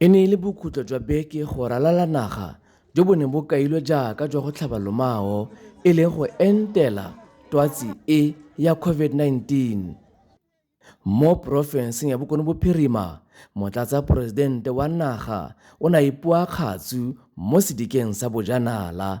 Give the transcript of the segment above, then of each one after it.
e ne e le bokhutlo jwa beke go ralala naga jo bo ne bo kailwe jaaka jwa go tlhaba lomao e leng go entela twatsi e ya covid-19 mo porofenseng ya bokone bophirima motlatsa poresidente wa naga o ne a ipua kgatsu mo sedikeng sa bojanala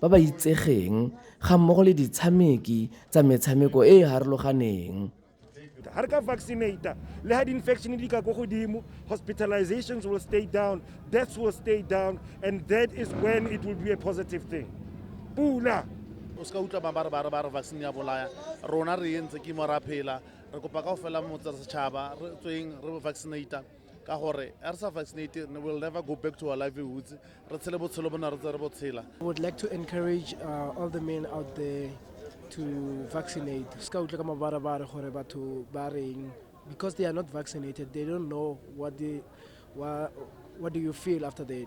ba ba itsegeng ga mmogo le ditshameki tsa metshameko e e harologaneng ga re ka vaccinata le ga di-infection di ka ko godimo hospitalizations will stay down deaths will stay down and that is when it will be a positive thing pula o se ka utlwa ba ba re vaccine ya bolaya rona re entse ke mo ra phela re kopa ka go fela motsa setšhaba re tsweng re vaccinata ka gore a re sa vaccinate will never go back to our livelihoods re tshele botshelo bo ne re tse re bo tshela I would like to encourage uh, all the men out there to vaccinate se ka utlwe ka mabarabare gore batho ba reng because they are not vaccinated they don't know what, they, what, what do you feel after that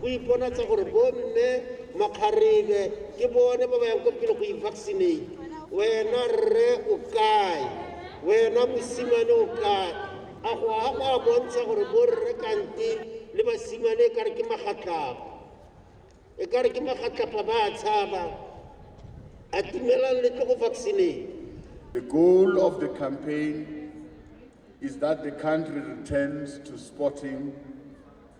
go iponatsa gore bomme makgarebe ke bone ba ba yang ko pele go i-vaccinate wena rre o kae wena mosimane o kae a go a go a bontsha gore borre kante le basimane e kare ke magatlapo e kare ke magatlapa ba a tshaba a timelang le tlo go vaccinate The goal of the campaign is that the country returns to sporting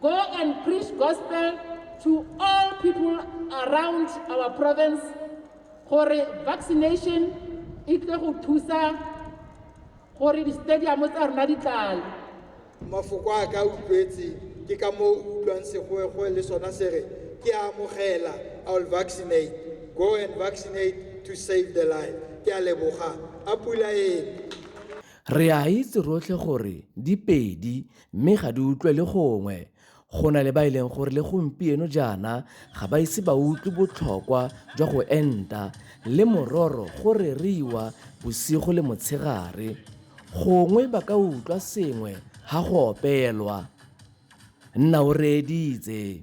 Go and preach gospel to all people around our province gore vaccination e tle go thusa gore di-stadium tsa rona di tlale mafoko a ka utlwetse ke ka moo utlwang segoegoe le sona se re ke a amogela i will vaccinate go and vaccinate to save the life ke a leboga a pula ene re a itse rotlhe gore di pedi Mme ga di utlwe le gongwe. Go na le ba e leng gore le gompieno jaana ga ba ise ba utlwe botlhokwa jwa go enta, le mororo go reriwa bosigo le motshegare. Gongwe ba ka utlwa sengwe ha go opelwa. Nna o reeditse.